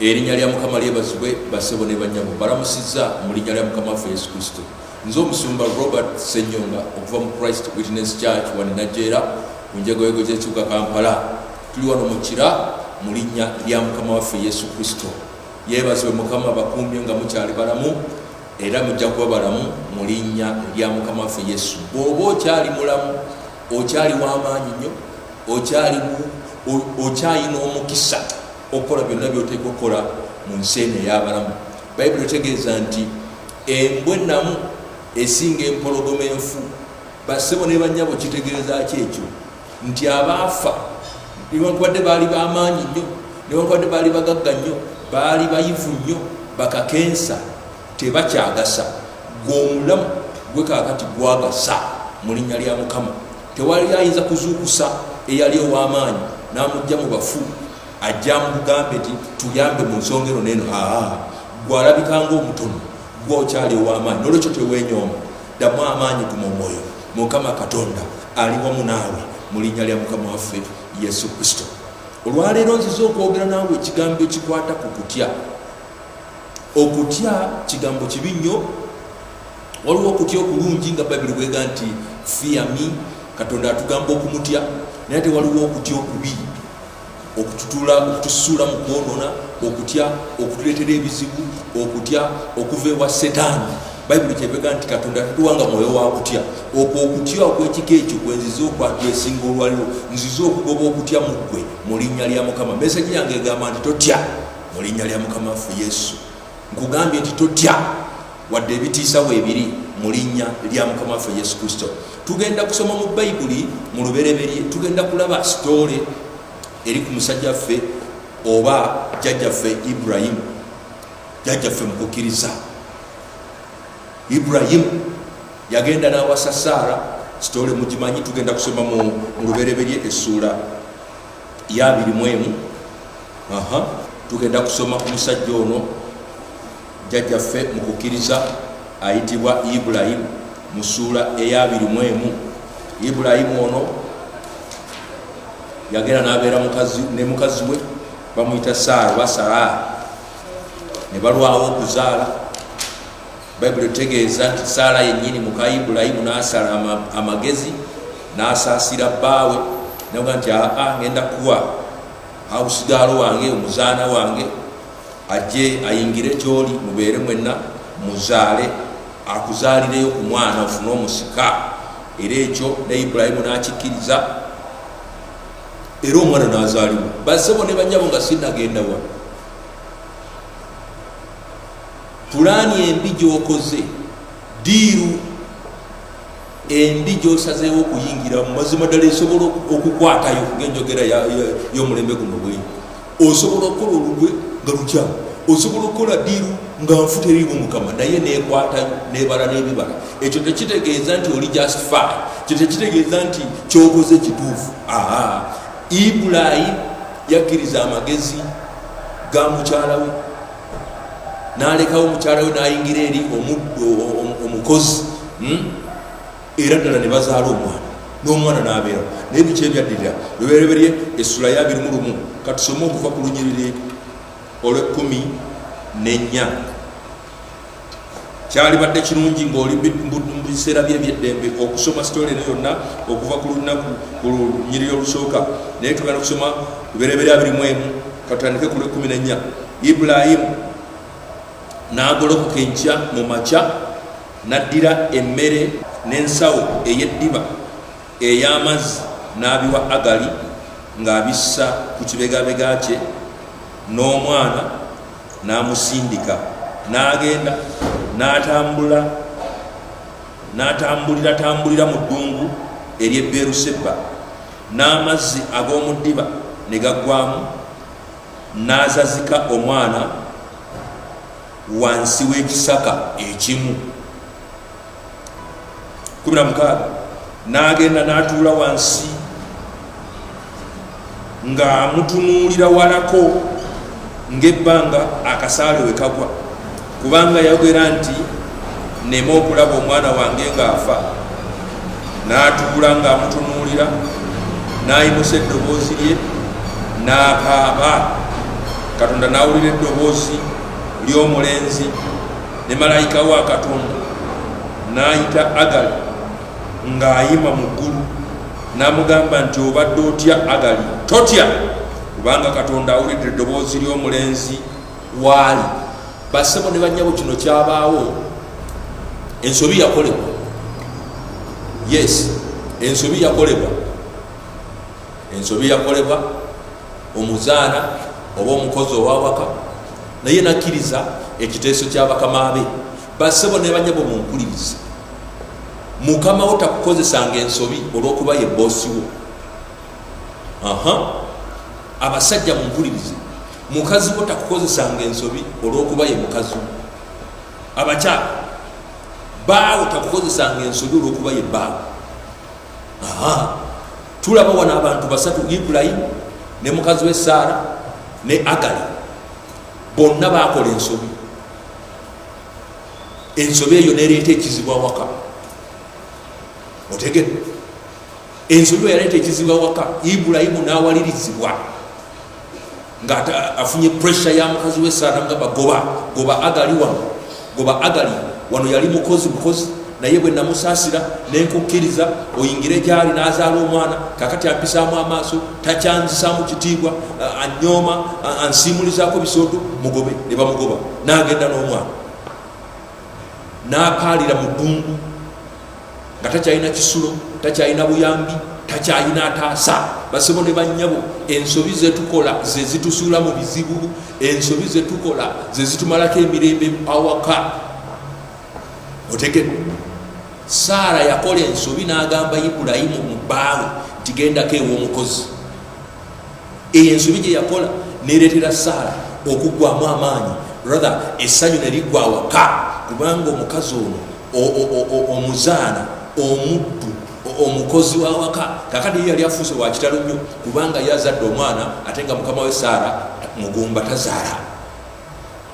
Erinnya lya Mukama lyebazibwe bassebo ne bannyabo, balamusizza mu linnya lya Mukama waffe Yesu Kristo. Nze omusumba Robert Ssenyonga okuva mu Christ Witness Church wano Najjeera ku njegoyego gy'ekibuga Kampala. Tuli wano mu Kira mu linnya lya Mukama waffe Yesu Kristo. Yeebazibwe Mukama bakuumye nga mukyali balamu era mujja kuba balamu mu linnya lya Mukama waffe Yesu. Bw'oba okyali mulamu, okyali w'amaanyi nnyo, okyali okyalina omukisa okukola byonna byoteeka okukola mu nsi eno ey'abalamu bayibuli etegeeza nti embwe namu esinga empologoma enfu basebo ne banyabo kitegeeza ki ekyo nti abaafa newankubadde baali bamaanyi nnyo newankubadde baali bagagga nnyo baali bayivu nnyo bakakensa tebakyagasa gweomulamu gwekakati gwagasa mu linnya lya mukama tewali ayinza kuzuukusa eyali ow'amaanyi n'amujja mu bafu ajja mu bugambe nti tuyambe mu nsonga eno neeno aa gwalabika ngaomutono gwe okyali ow'amaanyi nolwekyo tewenyooma ddamu amaanyi guma omwoyo mukama katonda ali wamu naawe mu linnya lya mukama waffe yesu kristo olwaleero nziza okwogera naawe ekigambo ekikwata ku kutya okutya kigambo kibi nnyo waliwo okutya okulungi nga bayibuli bwega nti fiyami katonda atugamba okumutya naye ate waliwo okutya okubi okututula okutusuula mu kwonona okutya okutuleetera ebizibu okutya okuva ewa setaani bayibuli kyebega nti katonda tatuwanga mwoyo wa kutya okwo okutya okwekika ekyo kwenziza okwatwesinga olwaliwo nziza okugoba okutya muggwe mu linnya lya mukama mesaji yange egamba nti totya mu linnya lya mukama ffe yesu nkugambye nti totya wadde ebitiisa weebiri mu linnya lya mukama waffe yesu kristo tugenda kusoma mu bayibuli mu lubereberye tugenda kulaba sitoole eri ku musajja ffe oba jjajjaffe ibrahimu jjajjaffe mu kukkiriza ibrahimu yagenda n'awasa saara sitoole mugimanyi tugenda kusoma mu lubereberye essuula yabiri mwemu aha tugenda kusoma ku musajja ono jjajjaffe mu kukkiriza ayitibwa ibulayimu mu suula eyabiri mwemu ibulayimu ono yagenda nabeera ne mukazi we bamuyita saara oba saraa ne balwawo okuzaala bayibuli etegeeza nti saala yennyini muka ibulayimu n'asala amagezi n'asaasira bbaawe naga nti aa ngenda kuwa hausigaalo wange omuzaana wange ajje ayingire kyoli mubeere mwenna muzaale akuzaalireyo ku mwana ofune omusika era ekyo ne ibulayimu n'akikkiriza era omwana n'azaaliwo bassebo ne banyabo nga sinagenda wano pulaani embi gyokoze diiru embi gyosazeewo okuyingira mu mazima ddala esobola okukwatayo ngaenjogera y'omulembe guno bwe osobola okukola olugwe nga lukyamu osobola okukola diiru nga nfuta erimu mukama naye nekwatayo nebala n'ebibala ekyo tekitegeeza nti oli just fi kyo tekitegeeza nti kyokoze kituufu aa ibulayimu yakkiriza amagezi ga mukyalawe nalekawo mukyala we nayingira eri omukozi hmm? era ddala ne bazaala omwana n'omwana nabeera naye biki ebyaddirira lubereberye essula ya birimu lumu katusome okuva ku lunyiriri olwekumi nenya kyalibadde kirungi ng'oli mu biseera bye ebyeddembe okusoma sitole eno yonna okuva ku lunaku ku lunyiriri olusooka naye tugenda kusoma luberebere abiri mu emu katandike ku lwekumi nennya ibulayimu n'agolokoka enkya mu makya n'addira emmere n'ensawo ey'eddiba ey'amazzi n'abiwa agali ng'abissa ku kibegabega kye n'omwana n'amusindika n'agenda n'atambula n'atambulira tambulira mu ddungu ery'e beruseba n'amazzi ag'omu ddiba ne gaggwamu n'azazika omwana wansi w'ekisaka ekimu kumi na mukaaga n'agenda n'atuula wansi ng'amutunuulira walako ng'ebbanga akasaale we kagwa kubanga yayogera nti nema okulaba omwana wange ng'afa n'atuula ng'amutunuulira n'ayimusa eddoboozi lye n'akaaba katonda n'awulira eddoboozi ly'omulenzi ne malayika wa katonda n'ayita agali ng'ayima mu ggulu n'amugamba nti obadde otya agali totya kubanga katonda awulidde eddoboozi ly'omulenzi waali basebo ne banyabo kino kyabaawo ensobi yakolebwa yes ensobi yakolebwa ensobi yakolebwa omuzaana oba omukozi owawaka naye nakkiriza ekiteeso kyabakama be basebo nebanyabo mumpuliriza mukama wo takukozesanga ensobi olwokuba ye bosi wo abasajja mumpulirize mukazi wo takukozesanga ensobi olwokuba ye mukazi wo abakyala baawo takukozesanga ensobi olwokuba ye baawo tulaba wano abantu basatu ibulayimu ne mukazi we saara ne agali bonna bakola ensobi ensobi eyo nereeta ekizibu awaka otegere ensobi eyo yaleeta ekizibu awaka ibulayimu n'awalirizibwa nga afunye pressure ya mukazi we sana nga bagoba goba agali wano goba agali wano yali mukozi mukozi naye bwe namusasira nenkukkiriza oyingire gyali nazaala omwana kakati ampisaamu amaaso takyanzisaamu kitiibwa anyooma ansiimulizaako bisooto mugobe ne bamugoba nagenda n'omwana napaalira mu ddungu nga takyalina kisulo takyalina buyambi takyalina ataasa basebo ne bannyabo ensobi zetukola zezitusuula mu bizibu ensobi zetukola zezitumalako emirembe awaka otegede saara yakola ensobi n'agamba ibulayimu mu bbaawe ntigendako ew'omukozi eyo ensobi gye yakola nereetera saala okuggwamu amaanyi rather essanyu ne liggwa awaka kubanga omukazi ono omuzaana omuddu omukozi wawaka kakati yeyali afuuse wakitalo nnyo kubanga yazadde omwana ate nga mukama we saala mugumba tazaala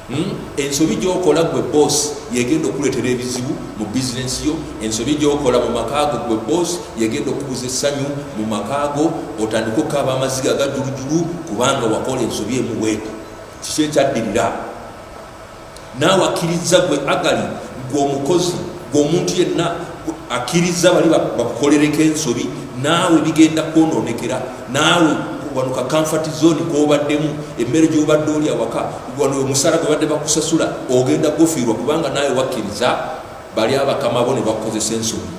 Hmm? ensobi gyokola gwe boss yegenda okuletera ebizibu mu bizinesi yo ensobi gyokola mu makaago gwe boss yegenda okubuza essanyu mu makaago otandika okukaaba amaziga gajulujulu kubanga wakola ensobi emuweeta kiki ekyaddirira naawe akkirizza gwe agali gwe omukozi gwe omuntu yenna akkirizza bali bakukolereko ensobi naawe bigenda kwonoonekera naawe wano ka comfort zone kobaddemu emmere gyobadde oli awaka wano omusaala gwebadde bakusasula ogenda gufiirwa kubanga naawe wakkiriza bali abakama bo ne bakukozesa ensobi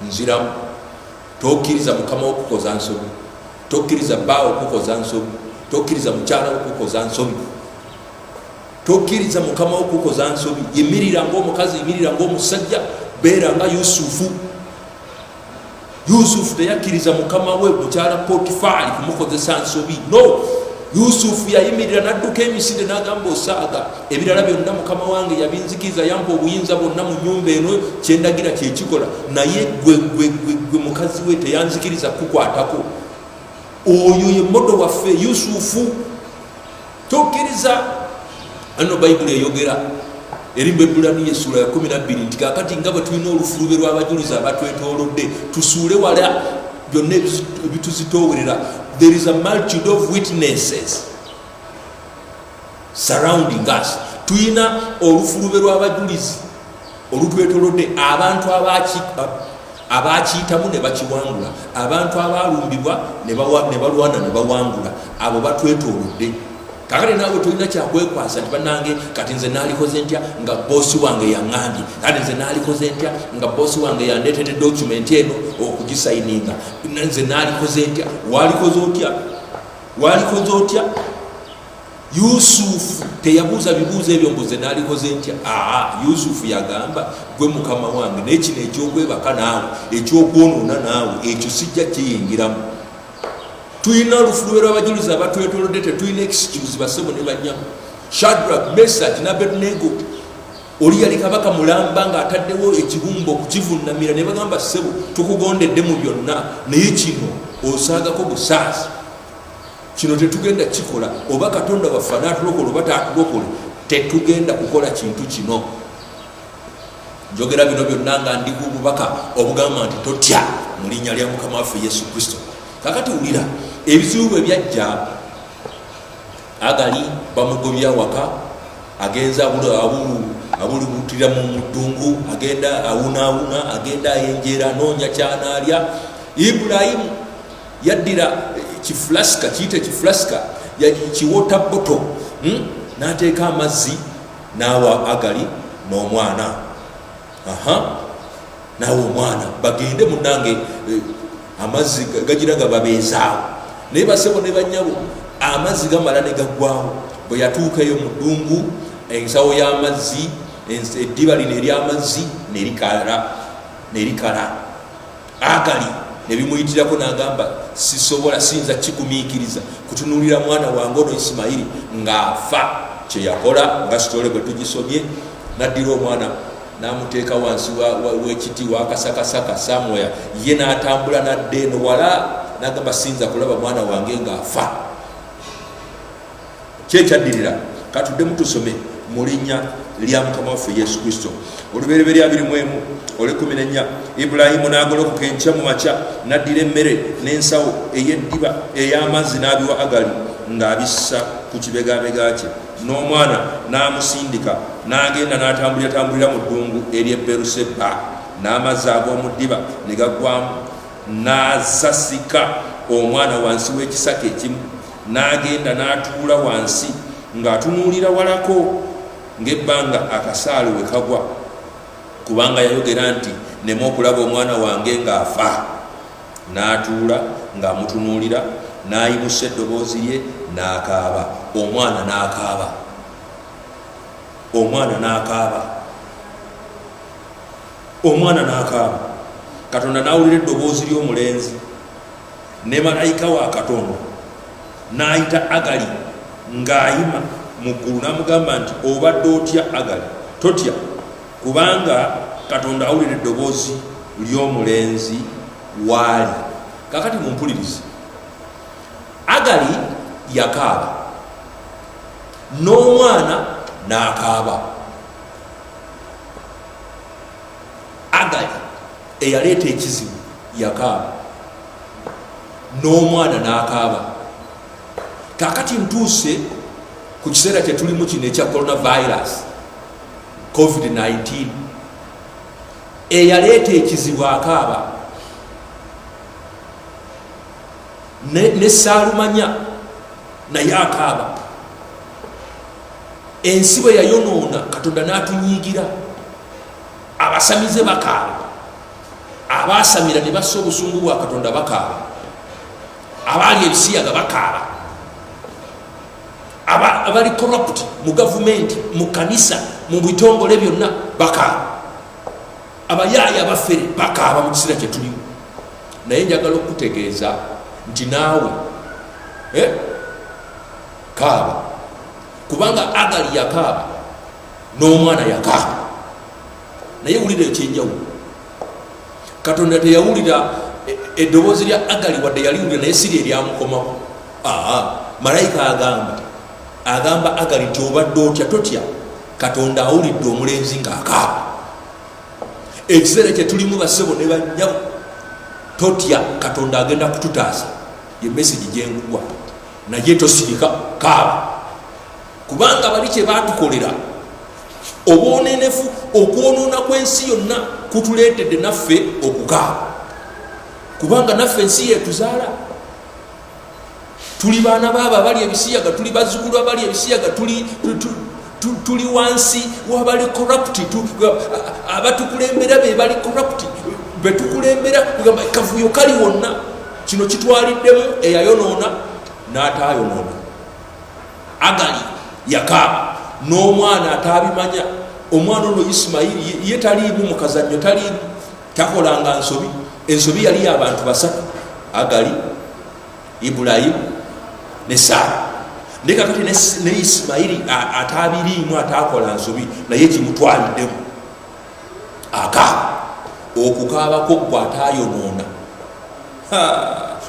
nziramu tokkiriza mukama wokukoza nsobi tokkiriza baawo okukoza nsobi tokkiriza mukyala wokukoza nsobi tokkiriza mukama wokukoza nsobi yimirira ngaomukazi yimirira ngaomusajja beera nga yusufu yusufu teyakkiriza mukama we mukyala potifaali kumukozesa nsobi no yusufu yayimirira nadduka emisinde nagamba osaaga ebirala byonna mukama wange yabinzikiriza yampa obuyinza bwonna mu nyumba eno kyendagira kyekikola naye gwegwegwegwe mukazi we teyanzikiriza kukwatako oyo ye modo waffe yusufu tukkiriza anno bayibuli eyogera eri bebulaniyo essuula ya 12 nti kakati nga bwe tulina olufulube lw'abajulizi abatwetoolodde tusuule wala byonna ebituzitoowerera there is a multitude of witnesses surrounding us tulina olufulube lw'abajulizi olutwetolodde abantu abaakiyitamu ne bakiwangula abantu abaalumbibwa ne balwana ne bawangula abo batwetolodde kakati naawe tolina kyakwekwasa nti banange kati nze naalikoze ntya nga boosi wange yaŋambye kati nze naalikoze ntya nga boosi wange yandeetedde dokumenti eno okugisayininga nze naalikoze ntya waalikoze otya waalikoze otya yusufu teyabuuza bibuuzo ebyo mbuze nalikoze ntya aa yusufu yagamba gwe mukama wange naye kino ekyokwebaka naawe ekyokwonoona naawe ekyo sijja kiyingiramu tulina olufulube lwabajulizi abatwetolodde tetulina ekisikibuzi basebo ne banyamu shadrak mesaj nabedunego oli yali kabaka mulamba ngaataddewo ekibumba okukivunnamira ne bagamba sebo tukugondedde mu byonna naye kino osaagako busaazi kino tetugenda kikola oba katonda waffe anatulokola oba tatulokole tetugenda kukola kintu kino njogera bino byonna nga ndiku obubaka obugamba nti totya mu linnya lya mukama waffe yesu kristo kakati wulira ebizibu bwe byajja agali bamugobya waka agenza abulubutira mu muddungu agenda awunaawuna agenda ayenjeera anoonya kyanaalya ibulayimu yaddira kifulasika kiyita ekifulasika kiwota boto hmm? n'ateeka amazzi n'awa agali n'omwana aha naawe omwana bagende munange eh, amazzi gagira nga babeezaawo naye basebo ne banyabo amazzi gamala ne gaggwawo bwe yatuukaeyo mu ddungu ensawo y'amazzi eddiba lino ery'amazzi nerikala nerikala agali nebimuyitirako nagamba sisobola siyinza kikumiikiriza kutunulira mwana wange ono isimayiri ng'afa kyeyakola nga sitole bwe tugisomye naddira omwana namuteeka wansi wekiti wakasakasaka samoya ye natambula nadde eno wala nagamba siyinza kulaba mwana wange ng'afa Kye kyaddirira, katuddemu tusome mu linnya lya mukama waffe yesu kristo olubereberye abiri mu emu olwekumi nenya ibulayimu n'agolokoka enkya mu makya n'addira emmere n'ensawo ey'eddiba ey'amazzi n'abiwa agali ng'abissa ku kibegabega kye n'omwana n'amusindika n'agenda n'atambuliratambulira mu ddungu ery'e beruseba n'amazzi ag'omu ddiba ne gaggwamu n'asasika omwana wansi w'ekisaka ekimu n'agenda n'atuula wansi ng'atunuulira walako ng'ebbanga akasaale we kagwa kubanga yayogera nti nemu okulaba omwana wange ng'afa n'atuula ng'amutunuulira n'ayimusa eddoboozi lye n'akaaba omwana n'akaaba omwana n'akaaba omwana n'akaaba katonda n'awulira eddoboozi ly'omulenzi ne malayika wa katonda n'ayita agali ng'ayima mu ggulu n'amugamba nti obadde otya agali totya kubanga katonda awulira eddoboozi ly'omulenzi waali kakati mumpulirize agali yakaaba n'omwana n'akaaba agali eyaleeta ekizibu yakaaba n'omwana n'akaaba kakati ntuuse ku kiseera kye tulimu kino ekya coronavirus covid-19 eyaleeta ekizibu akaaba ne saalumanya naye akaaba ensi bwe yayonoona katonda n'atunyiigira abasamize bakaaba abaasamira ne bassa obusungu bwa katonda bakaaba abaali ebisiyaga bakaaba abali corrupt mu gavumenti mu kanisa mu bitongole byonna bakaaba abayaaya abafere bakaaba mu kiseera kyetulimu naye njagala okukutegeeza nti naawe eh, kaaba kubanga agali yakaaba n'omwana yaka naye wulira ekyenjawulo katonda teyawulira e, eddoboozi lya agali wadde yaliwulira naye siri eryamukomawo malayika agamba agamba agali nti obadde otya totya katonda awulidde omulenzi ngaakaaba ekiseera kyetulimu basebo ne banyabo totya katonda agenda kututaasa ye mesagi gyenguwa naye tosirika kaaba kubanga bali kye baatukolera obwonenefu okwonoona kw'ensi yonna kutuleetedde naffe okukaaba kubanga naffe ensi yetuzaala tuli baana baabo abali ebisiyaga tuli bazukulu abali ebisiyaga tuli tuli wansi wabali corrupt abatukulembera bebali corrupt betukulembera kugamba kavuyo kali wonna kino kitwaliddemu eyayonoona n'ataayonoona agali yakaaba n'omwana ataabimanya omwana ono isimayiri ye taliimu mukazannyo taliimu takolanga nsobi ensobi yali yabantu basatu agali ibulayimu ne saara naye kakati ne isimayiri ataabiriimu ataakola nsobi naye kimutwaliddemu akaaba okukaabako gwe ataayonoona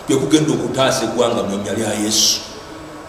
kwekugenda okutaasa eggwanga mu nnya lya yesu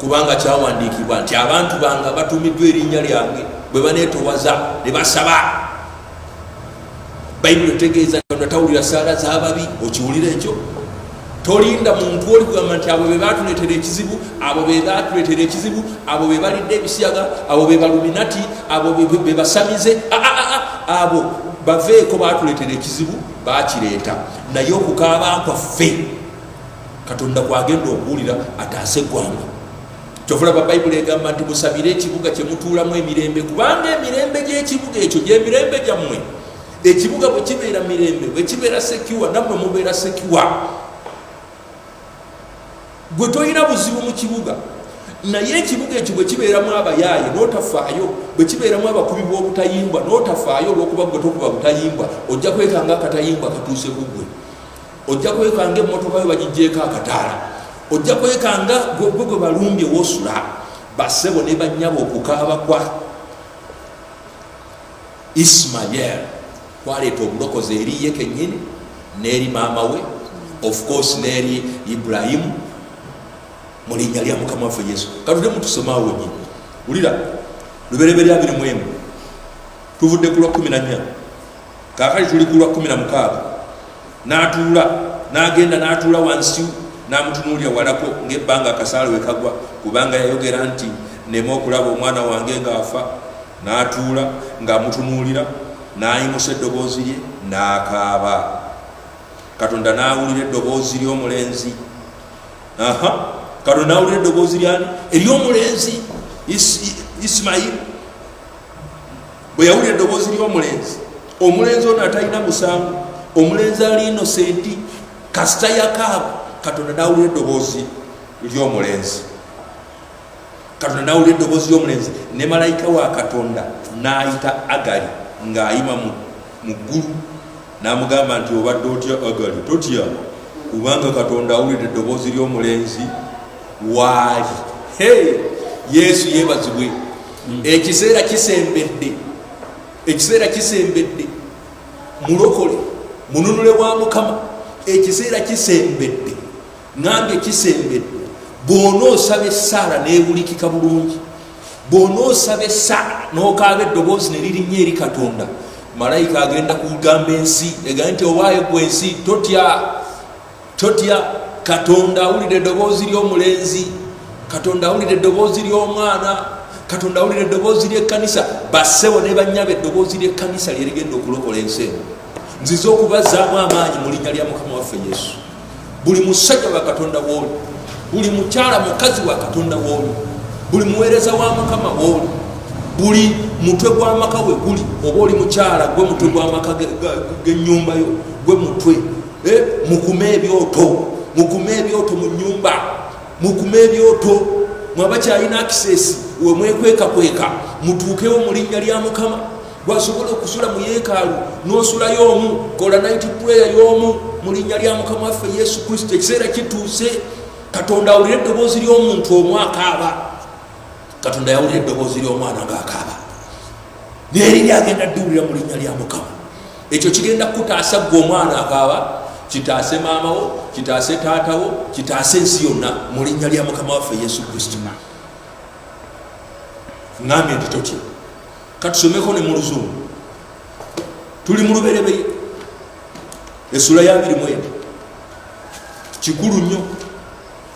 kubanga kyawandiikibwa nti abantu bange batuumiddwa erinnya lyange bwe baneetowaza ne basaba bayibuli otegeeza katonda tawulira saala z'ababi okiwulira ekyo tolinda muntu oli kugamba nti abo be batuleetera ekizibu abo be batuleetera ekizibu abo be balidde ebisiyaga abo be baluminati abo be basamize ah, ah, ah, abo baveeko batuleetera ekizibu bakireeta naye okukaaba kwaffe katonda kwagenda okuwulira ataase eggwanga kyovalaba bayibuli egamba nti musabire ekibuga kyemutuulamu emirembe kubanga emirembe gyekibuga ekyo gyemirembe gyammwe ekibuga bwekibeera mirembe bwekibeera sekiwa nammwe mubeera sekiwa gwe tolina buzibu mu kibuga naye ekibuga ekyo bwekibeeramu abayaaye notafaayo bwekibeeramu abakubi bwobutayimbwa notafaayo olwokuba gwe tokuba butayimbwa ojja kwekanga akatayimbwa katuuse kugwe ojja kwekanga emmotoka yo bagijjeeko akataala ojja kwekanga gwe gwe balumbye wosula basebo ne banyabo okukaaba kwa ismael kwaleeta obulokozi eri ye kenyini n'eri maama we of course n'eri ibulayimu mu linnya lya mukama waffe yesu katude mutusomawo nyi wulira lubereberya biri mwemu tuvudde ku lwa kumi na nnya kaakali tuli ku lwa kkumi na mukaaga n'atuula n'agenda n'atuula wansi n'amutunuulira walako ng'ebbanga akasaala we kagwa kubanga yayogera nti nema okulaba omwana wange ng'afa n'atuula ng'amutunuulira n'ayimusa eddoboozi lye n'akaaba katonda n'awulira eddoboozi ly'omulenzi aha katonda n'awulira eddoboozi lyani ery'omulenzi isimayiri bwe yawulira eddoboozi ly'omulenzi omulenzi ono atalina musango omulenzi ali inosenti kasita yakaaba katonda nawulira eddoboozi ly'omulenzi katonda nawulira eddoboozi ly'omulenzi ne malayika wa katonda n'ayita agali ng'ayima mu mu ggulu n'amugamba nti obadde otya agali totya kubanga katonda awulidde eddoboozi ly'omulenzi waali he yesu yebazibwe hmm. ekiseera kisembedde ekiseera kisembedde mulokole mununule wa mukama ekiseera kisembedde nange kisembedde bwona osaba essaala newulikika bulungi bwona osaba essaala nokaaba eddoboozi neririnnya eri katonda malayika agenda kugamba ensi egamba nti owaayo gwe ensi totya totya katonda awulira eddoboozi ly'omulenzi katonda awulira eddoboozi ly'omwana katonda awulira eddoboozi ly'ekkanisa bassebo ne banyaba eddoboozi ly'ekkanisa lyerigenda okulokola ensi eno nzize okubazaamu amaanyi mu linnya lya mukama waffe yesu buli musajja wa katonda wooli buli mukyala mukazi wa katonda wooli buli muweereza wa mukama wooli buli mutwe gw'amaka we guli oba oli mukyala gwe mutwe gw'amaka g'ennyumba yo gwe mutwe eh, mukume ebyoto mukume ebyoto mu nnyumba mukume ebyoto mwabakyalina akisesi wemwekwekakweka mutuukewo mu linnya lya mukama gwasobola okusula mu yeekaalu n'osulayo omu kola naiti puleya y'omu mu linnya lya mukama waffe yesu kristo ekiseera kituuse katonda awulira eddoboozi ly'omuntu omu akaaba katonda yawulira eddoboozi ly'omwana ng'akaaba neriri agenda ddiwulira mu linnya lya mukama ekyo kigenda kukutaasa ggwe omwana akaaba kitaase maamawo kitaase taatawo kitaase ensi yonna mu linnya lya mukama waffe yesu kristo ngambye nti totya katusomeko ne mu luzungu tuli mu luberebeye esula yabiri mwene kikulu nnyo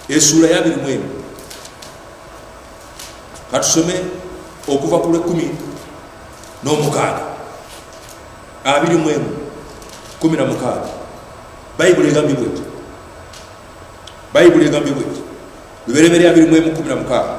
esula yabiri mwene katusome okuva ku lwekumi n'omukaaga abiri mwemu kumi na mukaaga bayibuli egambye bweti bayibuli egambye bweti luberebere abiri mwemu kumi na mukaaga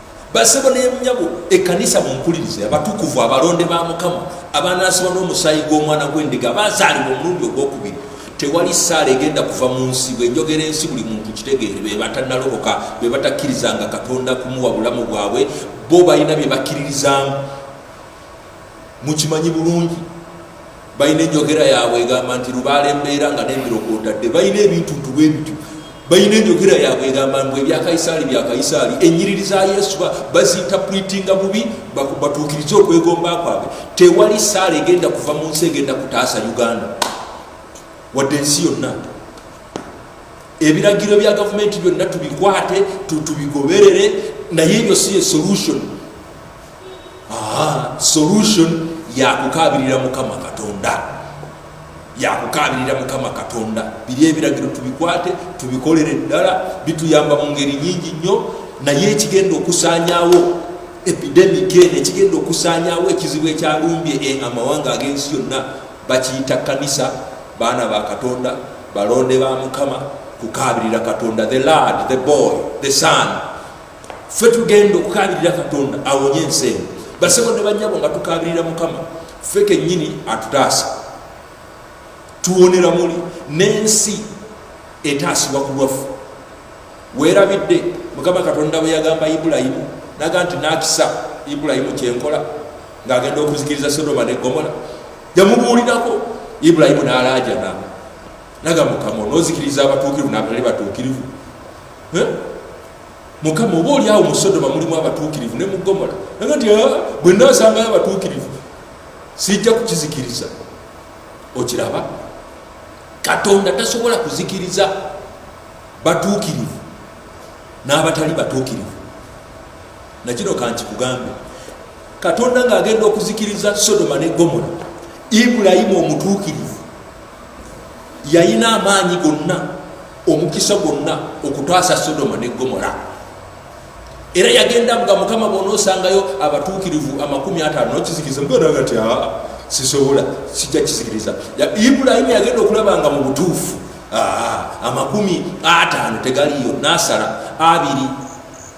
basebo nemunyabo ekanisa mumpulirize abatukuvu abalonde ba mukama abanaasibwa n'omusaayi gw'omwana gw'endiga abazaalibwa omulundi ogwokubiri tewali saala egenda kuva mu nsi bwenjogera ensi buli muntu kitegeere bebatanalokoka bebatakkirizanga katonda kumuwa bulamu bwabwe bo balina byebakkiririzaamu mukimanyi bulungi balina enjogera yaabwe egamba nti lubaala embeera nga nembirokootadde balina ebintu ntubwe bityo balina enjogera yaabwe egamba mbu ebyakaisaali byakaisaali enyiriri za yesu baziyita pulitinga bubi batuukirize okwegomba kwabwe tewali saala egenda kuva mu nsi egenda kutaasa uganda wadde ensi yonna ebiragiro bya gavumenti byonna tubikwate tubigoberere naye ebyo si ye solution Aha, solution yakukaabirira mukama katonda yakukaabirira mukama katonda biri ebiragiro tubikwate tubikolere eddala bituyamba mu ngeri nyingi nnyo naye ekigenda okusaanyawo epidemic eno ekigenda okusaanyawo ekizibu ekyalumbye e amawanga ag'ensi yonna bakiyita kanisa baana ba katonda balonde ba mukama kukaabirira katonda the lard the boy the son ffe tugenda okukabirira katonda awonye ensi eno basebo ne banyabo nga tukabirira mukama ffe kenyini atutaasa tuwonera muli n'ensi etaasibwa ku lwaffe weerabidde mukama katonda bwe yagamba ibulayimu naga nti nakisa ibulayimu kyenkola ng'agenda okuzikiriza sodoma ne gomola yamubuulirako ibulayimu n'alaajana naga mukama onozikiriza abatuukirivu nabatali batuukirivu mukama oba oli awo mu sodoma mulimu abatuukirivu ne mu gomola naga nti ah, bwe nasangayo abatuukirivu sijja kukizikiriza okiraba katonda tasobola kuzikiriza batuukirivu n'abatali batuukirivu nakino kankikugambe katonda ng'agenda okuzikiriza sodoma ne gomola ibulayimu omutuukirivu yalina amaanyi gonna omukisa gwonna okutaasa sodoma ne gomora era yagenda nga mukama bona osangayo abatuukirivu amakumi ataano nokizikiriza mugenda nga tya ah, sisobola sijja kizikiriza ibulayimu yagenda okulaba nga mu butuufu ah, amakumi ataano tegaliyo nasala abiri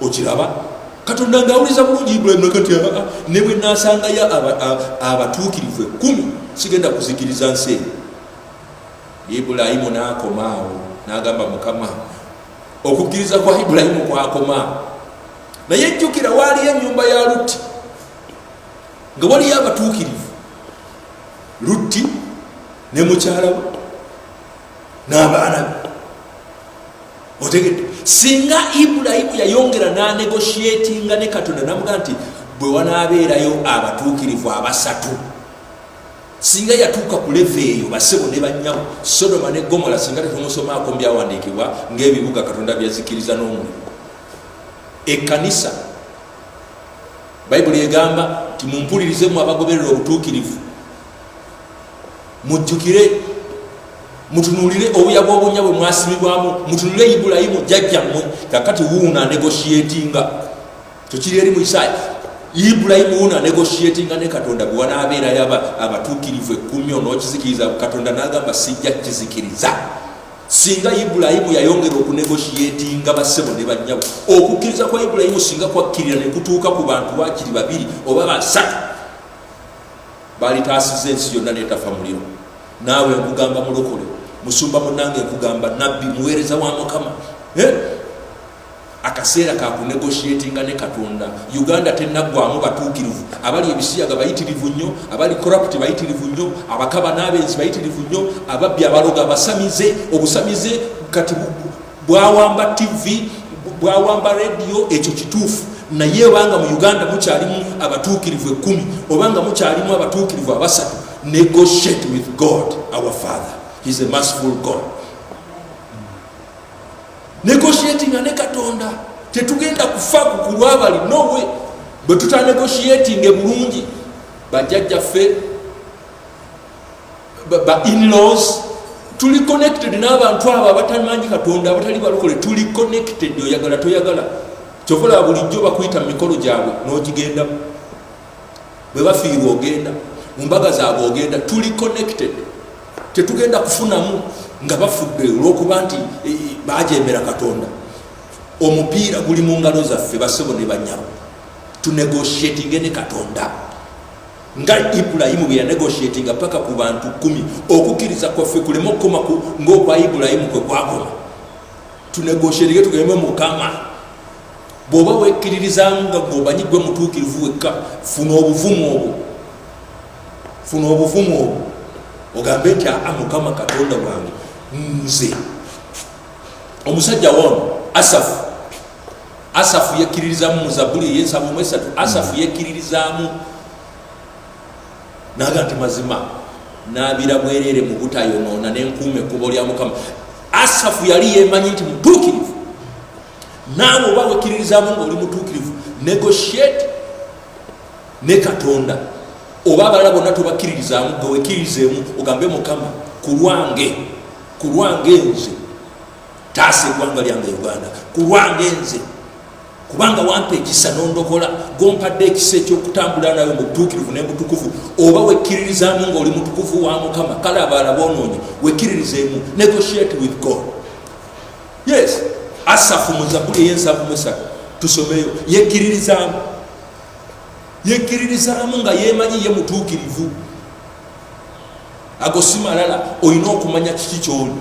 okiraba katonda ngaawuliza bulungi ibulayimu nakati ah, ah, ne bwe nasangayo abatuukirivu ekkumi sigenda kuzikiriza nsi eyo ibulayimu n'akomaawo n'agamba mukama okukkiriza kwa ibulayimu kwakoma naye jjukira waaliyo ennyumba ya lutti nga waliyo abatuukirivu lutti ne mukyalawe n'abaana be otegedde singa ibulayimu yayongera n'anegoshiatinga ne katonda namuga nti bwe wanaabeerayo abatuukirivu abasatu singa yatuuka ku leve eyo basebo ne bannyamu sodoma ne gomola singa tetumusomaako mu byawandiikibwa ng'ebibuga katonda byazikiriza n'omulimu ekkanisa bayibuli egamba nti mumpulirize mu abagoberera obutuukirivu mujjukire mutunuulire obuya bw'obunya bwe mwasimibwamu mutunuulire ibulayimu jjajjammwe kakati wuuna negoshiatinga kyokiri eri mu isaaya ibulayimu wuuna negoshiatinga ne katonda gwe wanaabeera yaba abatuukirivu ekkumyo n'okizikiriza katonda n'agamba sijja kizikiriza singa ibulayimu yayongera okunegoshiatinga bassebo ne bannyabo okukkiriza kwa ibulayimu singa kwakkirira ne kutuuka ku bantu waakiri babiri oba basatu balitaasiza ensi yonna netafa muliro naawe nkugamba mulokole musumba munange nkugamba nabbi muweereza wa mukama eh? akaseera kakunegoshiatinga ne katonda uganda tenaggwamu batuukirivu abali ebisiyaga bayitirivu nnyo abali corrupt bayitirivu nnyo abakaba n'abenzi bayitirivu nnyo ababbi abaloga abasamize obusamize kati bwawamba tv bwawamba rediyo ekyo kituufu naye obanga mu uganda mukyalimu abatuukirivu ekumi obanga mukyalimu abatuukirivu abasatu negotiate with god our father he's a merciful god negotiatinga ne katonda tetugenda kufa kukulwabali nowe bwe tutanegotiatinge bulungi bajjajjaffe ba inlaws tuli connected n'abantu abo abatamanyi katonda abatali balokole tuli connected oyagala toyagala kyokola bulijjo bakuyita mu mikolo gyabwe n'ogigendamu bwe bafiirwa ogenda mu mbaga zaabwe ogenda tuli connected tetugenda kufunamu nga bafudde olwokuba nti e, e, bajembera katonda omupiira guli mu ngalo zaffe basebo ne banyabo tunegotiatinge ne katonda nga ibulayimu bwe yanegotiatinga paka ku bantu kumi okukkiriza kwaffe kuleme okukoma ngaokwa ibulayimu kwe kwakoma tunegotiatinge tugembe mukama bw'oba wekkiririzamu nga gweomanyi gwe mutuukirivu wekka funa obuvumu obwo funa obuvumu obwo ogambe nti aa mukama katonda wange nze omusajja woono asafu asafu yekkiririzaamu mu zabuli eyensaba omu esatu asafu hmm. yekkiririzaamu naga nti mazima nabira bwereere mu butayonoona nenkuuma ekkubo lya mukama asafu yali yemanyi nti mutuukirivu naawe oba wekkiririzaamu ngaoli mutuukirivu negotiate ne katonda oba abalala bonna tobakkiririzaamu gewekkirizeemu ogambe mukama ku lwange ku lwange nze taasa egwanga lyange uganda kulwange nze kubanga wampa ekisa nondokola gompadde ekisa ekyokutambula nawe mubutuukirivu nemutukuvu oba wekkiririzaamu ngaoli mutukuvu wa mukama kale abaala bonoonyi wekkiririzeemu negotiate with god yes asafu muzabuli eyensavu musatu tusomeyo yekkiririzaamu yekkiririzaamu nga yemanyi ye mutuukirivu ago simalala olina okumanya kiki kyoli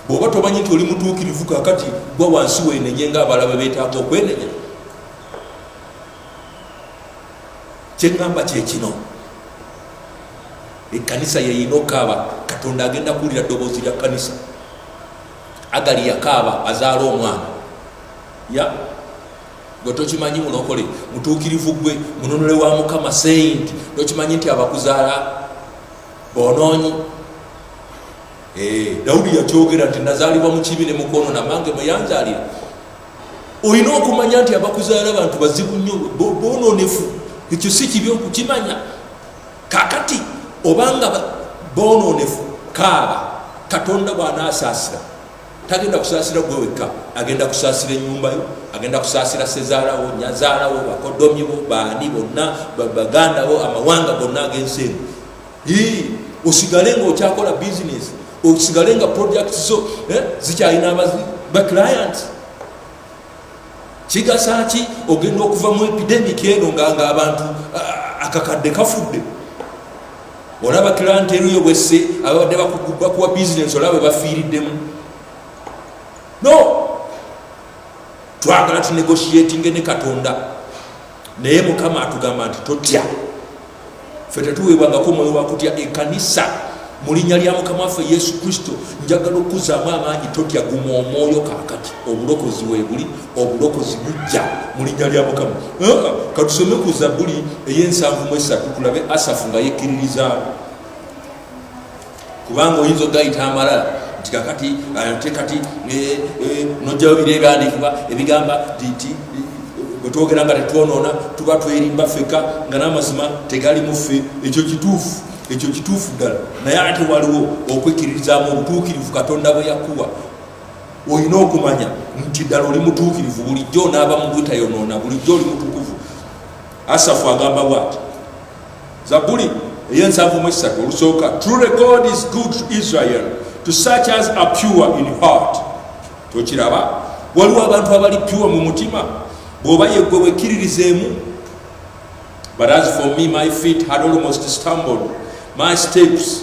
bw'oba tomanyi nti oli mutuukirivu kakati gwa wansi weenenye nga abalaba beetaaga okwenenya kyeŋŋamba kye kino ekkanisa yeyina okaaba katonda agenda kuwulira ddoboozi lya kkanisa agali yakaaba azaala omwana ya gwe tokimanyi mulokole mutuukirivu gwe mununule wa mukama seyinti tokimanyi nti abakuzaala bonoonyi Eh, dawudi yakyogera nti nazalibwa mu kibi ne mukono namange mweyanzalira olina okumanya nti abakuzaala bantu bazibu nnyo bononefu ekyo si kibi okukimanya kakati obanga bononefu kaaba katonda bwanaasaasira tagenda kusaasira gwe wekka agenda kusaasira enyumba yo agenda kusaasira sezaalawo nyazaalawo bakodomibo baani bonna baganda bo amawanga gonna ag'ensi eno osigale nga okyakola bisinesi osigale nga project zo eh, zikyalina abazi ba client kigasa ki ogenda okuva mu epidemic eno nga nga abantu akakadde kafudde olaba client eruyo bwesse ababadde bakuwa bisinesi olaba bafiiriddemu no twagala tunegotiatinge ne katonda naye mukama atugamba nti totya fe tetuweebwangako omwoyo wakutya ekanisa mu linnya lya mukama waffe yesu kristo njagala okukuzaamu amaanyi totya guma omwoyo kakati obulokozi webuli obulokozi bujja mu linnya lya mukama ah, katusome ku zabuli ey'ensanvu mu esatu tulabe asafu nga yekkiririzaamu kubanga oyinza ogayita amalala nti kakati ate kati eh, eh, nojjayo bira ebyandikibwa ebigamba nti bwetwogera nga tetwonoona tuba twerimba feka nga n'amazima tegali muffe ekyo kituufu ekyo kituufu ddala naye ate waliwo okwekkiririzaamu obutuukirivu katonda bwe yakuwa olina okumanya nti ddala oli mutuukirivu bulijjo onaaba mu butayonoona bulijjo oli mutukuvu asafu agamba bwati Zabuli ey'ensanvu mu essatu olusooka true record is good to Israel to such as are pure in heart tokiraba waliwo abantu abali pure mu mutima bw'oba yeggwe wekkiririzeemu but as for me my feet had almost stumbled my steps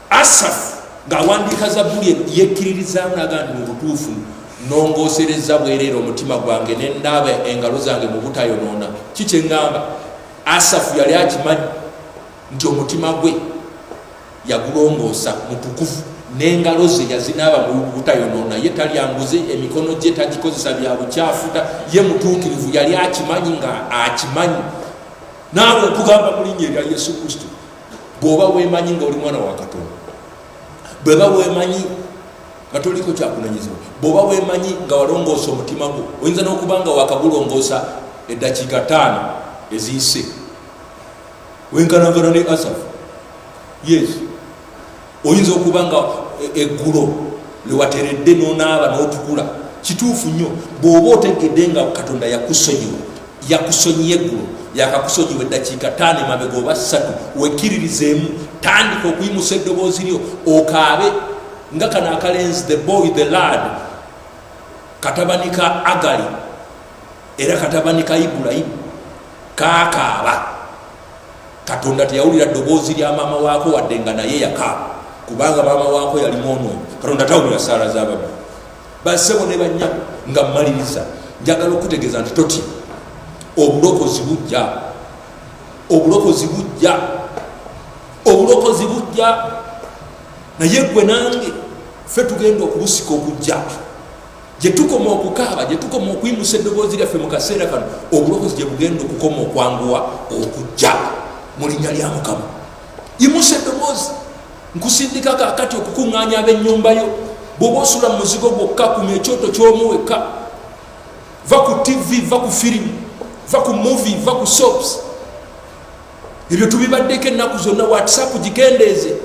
Asafu ng'awandiika Zabbuli yekkiririzaamu n'agamba nti mu butuufu nongooserezza bwereera omutima gwange ne ndaaba engalo zange mu butayonoona ki kye ŋŋamba asafu yali akimanyi nti omutima gwe yagulongoosa mutukuvu n'engalo ze yazinaaba mu butayonoona ye talyanguze emikono gye tagikozesa bya bukyafuta ye mutuukirivu yali akimanyi nga akimanyi naawe okugamba mu linnya erya yesu kristo bwoba wemanyi nga oli mwana wa katonda bweba wemanyi nga toliko kyakunanyizibwa bwoba wemanyi nga walongoosa omutima gwo oyinza nokuba nga wakagulongoosa eddakiika taano eziyise wenkanagana ne asafu yes oyinza okuba nga e, eggulo lewateredde nonaaba notukula kituufu nnyo bwoba otegedde nga katonda yakusonyiwa yakusonyiye eggulo yakakusonyiwa eddakiika taano emabega oba ssatu wekiririzeemu tandika okuyimusa eddoboozi lyo okaabe nga kano akalenzi the boy the lad katabani ka agali era katabani ka ibulayimu kakaaba katonda teyawulira ddoboozi lya maama waako wadde nga naye yaka kubanga maama waako yali mwonoonyi katonda tawulira saala z'ababi basebo ne banyabo nga mmaliriza njagala okutegeeza nti toti obulokozi bujja obulokozi bujja obulokozi bujja naye gwe nange fe tugenda okubusika okujja gye tukoma okukaaba gye tukoma okuyimusa eddoboozi lyaffe mu kaseera kano obulokozi gye bugenda okukoma okwanguwa okujja mu linnya lya mukama yimusa eddoboozi nkusindika kakati okukuŋŋaanya ab'ennyumba yo bw'oba osula mu muzigo gwokka kuma ekyoto ky'omu wekka va ku tivi va ku firimu va ku muvi va ku sops ebyo tubibaddeko ennaku zonna whatsapp gikendeeze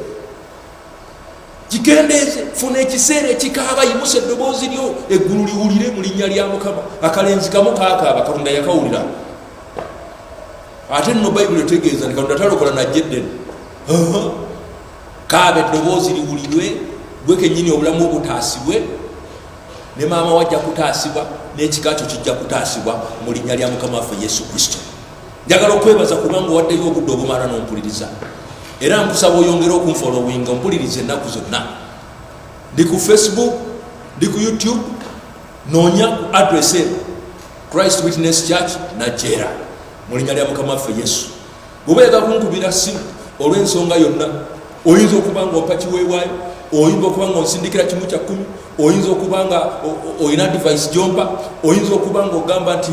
kigendeeze funa ekiseera ekikaaba yimusa eddoboozi lyo eggulu liwulire mu linnya lya mukama akalenzi kamu kakaaba katonda yakawulira ate nno bayibuli etegeeza nti katonda talokola najjeddene kaaba eddoboozi liwulirwe gwe kenyini obulamu obutaasibwe ne maama wajja kutaasibwa n'ekika kyo kijja kutaasibwa mu linnya lya mukama waffe yesu kristo njagala okwebaza kubanga owaddeyo obudde obumala n'ompuliriza era nkusaba oyongere okunfolowinga ompuliriza ennaku zonna ndi ku facebook ndi ku youtube noonya ku adress e christ witness church najera mu linnya lya mukama waffe yesu bwoba yaga kunkubira simu olw'ensonga yonna oyinza okuba nga ompa kiweewaayo oyinza okuba nga onsindikira kimu kya kkumi oyinza okuba nga olina divise gyompa oyinza okuba nga ogamba nti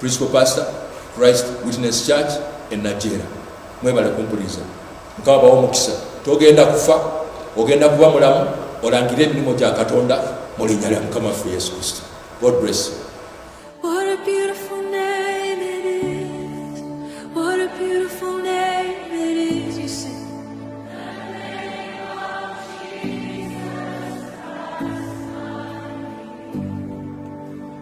Principal Pastor, Christ Witness Church e Najera. Mwebale kumpuliriza. Mukama bawo mukisa. Togenda kufa, ogenda kuba mulamu, olangire emirimu gya Katonda mu linnya lya Mukama waffe Yesu Kristo. God bless you.